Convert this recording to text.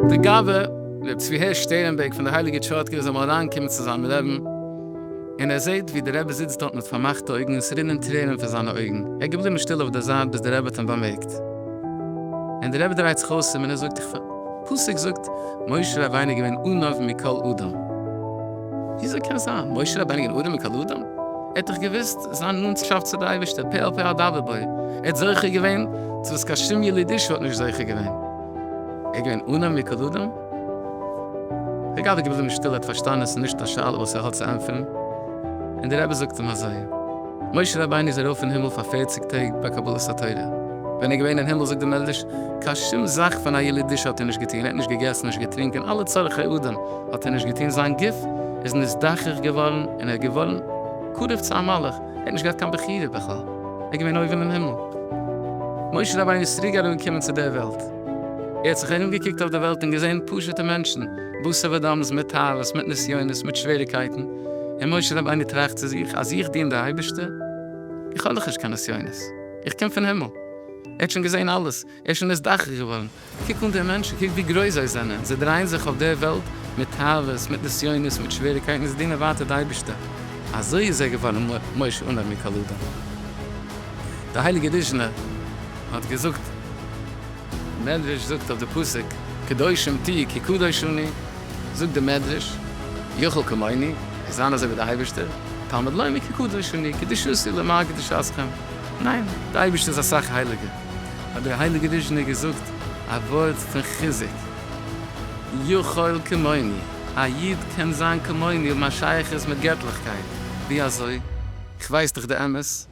די גאוה ר' צבי הערש שטערנבערג פון די הייליגע טשארטקובער זאל אמאל אריין קומען צו זיין לעבן און ער זעהט ווי די רבי זיצט דארט מיט פארמאכטע אויגן און ס'רינען טרערן פון זיינע אויגן ער איז געבליבן שטיל אויף די זייט ביז די רבי האט אים באמערקט און די רבי דרייט זיך אויס אים און ער זאגט איך פסוק זאגט משה רבינו געווען ענוו מכל אדם. וויאזוי קען זיין? משה רבינו געווען ענוו מכל אדם? ער האט דאך געוואוסט זיין נאנטשאפט צו די אייבערשטער פה אל פה אדבר בו, ער האט זוכה געווען צו וואס קיין שום יליד איש האט נישט זוכה געווען. ער איז געווען ענוו מכל אדם? דער גאב ד איז געבליבן שטיל, ער האט פארשטאנען עס איז נישט א שאלה וואס ער האט צו ענטפערן, און דער רבי זאגט אים אזוי. משה רבינו איז ארויף אין הימל פאר פערציג טעג ביי קבלת התורה. ווען ער איז געווען אין הימל זאגט די מדרש, קיין שום זאך פון א ילידישע האט ער נישט געטון, ער האט נישט געגעסן, נישט געטרינקען, אלע צרכי אדם האט ער נישט געטון, זיין גוף איז נזדכך געווארן און ער איז געווארן קרוב צו א מלאך, ער האט נישט געהאט קיין בחירה בכלל, ער איז געווען אויבן אין הימל. משה רבינו איז צוריק אראפגעקומען צו דער וועלט, ער האט זיך ארומגעקוקט אויף דער וועלט און געזען פשוט'ע מענטשן, בשר ודם, מיט תאוות, מיט נסיונות, מיט שוועריקייטן, און משה רבינו טראכט צו זיך, אז איך דין די אייבערשטער? איך האב דאך נישט קיין נסיונות, איך קום פון הימל, ער האט שוין געזען אלעס, ער איז שוין נתבחר געווארן, קוק אן די מענטשן, קוק ווי גרויס זיי זענען, זיי דרייען זיך אויף דער וועלט מיט תאוות, מיט נסיונות, מיט שוועריקייטן, און זיי דינען ווייטער די אייבערשטער, אזוי איז ער געווארן משה אנא מקל אדם. דער הייליגער ריזשנער האט געזאגט. מדרש זאגט אויף די פסוק קדושים תהיו כי קדוש אני, זאגט די מדרש יכול כמוני, איך זיין אזוי ווי די אייבערשטער, תלמד לומר כי קדוש אני, קדושתי למען קדושתכם, ניין, די אייבערשטער איז אסאך הייליגער, האט דער הייליגער ריזשינער געזאגט א ווארט פון חיזוק, יכול כמוני, א איד קען זיין כמוני, האבן א שייכות מיט געטליכקייט, ווי אזוי? איך ווייס דאך די אמת.